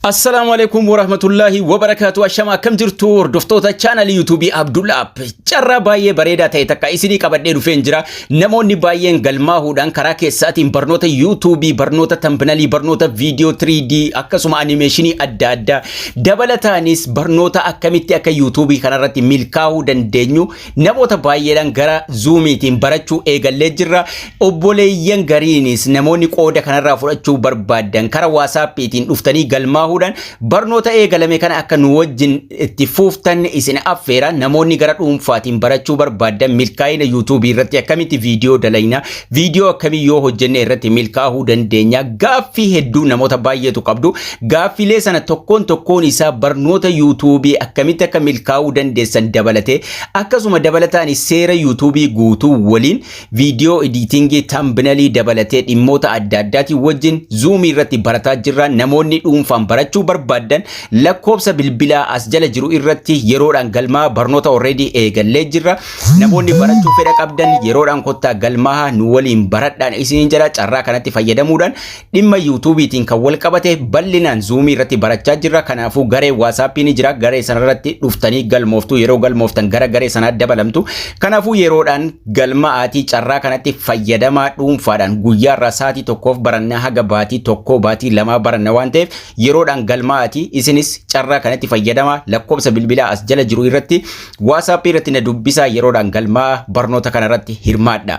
Assalaamu alaikum warahmatullaahi wabarakaatu ashama akkam jirtu hordoftoota chaanalii yuutuubii Abdullah App carraa baay'ee bareedaa ta'e takka isinii qabadhee dhufeen jira namoonni baay'een galmaahuudhaan karaa keessaatiin barnoota yuutuubii barnoota tambinalii barnoota viidiyoo 3D akkasuma animeeshinii adda addaa dabalataanis barnoota akkamitti akka yuutuubii kanarratti milkaa'uu dandeenyu Namoota baay'eedhaan gara zuumiitiin barachuu eegallee jirra. Obboleeyyan gariinis namoonni qooda kanarraa fudhachuu barbaadan karaa waasaappiitiin dhuftanii galmaahuudhaan barnoota eegalame kana akka nu wajjin itti fuuftan isin affeera. Namoonni gara dhuunfaatiin barachuu barbaadan milkaa'ina yuutuubii irratti akkamitti viidiyoo dalagnaa, Viidiyoo akkamii yoo hojjenne irratti milkaa'uu dandeenya gaaffii hedduu namoota baay'eetu qabdu gaaffiilee sana tokkoon tokkoon isaa barnoota yuutuubii akkamitti akka milkaa'uu dandeessan dabalatee akkasuma dabalataan seera yuutuubii guutuu waliin viidiyoo ediitingii tambinalii dabalatee dhimmoota adda addaatiin wajjin zuumii irratti barataa jirra namoonni dhuunfaan barachuu barbaadan lakkoobsa bilbilaa as jala jiru irratti yeroodhaan galmaa barnoota already eegallee jirra. Namoonni barachuu fedha qabdan yeroodhaan kottaa galmaaha nu waliin baradhaan isiniin jira carraa kanatti fayyadamuudhaan dhimma yuutuubiitiin kan wal qabate bal'inaan zuumii irratti barachaa jirra kanaafuu garee waasaappii ni jira garee sanarratti dhuftanii galmooftu yeroo galmooftan gara garee sanaa dabalamtu kanaafuu yeroodhaan galma'aatii carraa kanatti fayyadamaa dhuunfaadhaan guyyaa irraa saatii tokkoof barannaa haga baatii tokkoo baatii lamaa baranna waan ta'eef yeroodhaan galma'aatii isinis carraa kanatti fayyadamaa lakkoobsa bilbilaa as jala jiru irratti WhatsApp irratti na dubbisaa yeroodhaan galmaa'a barnoota kanarratti hirmaadhaa.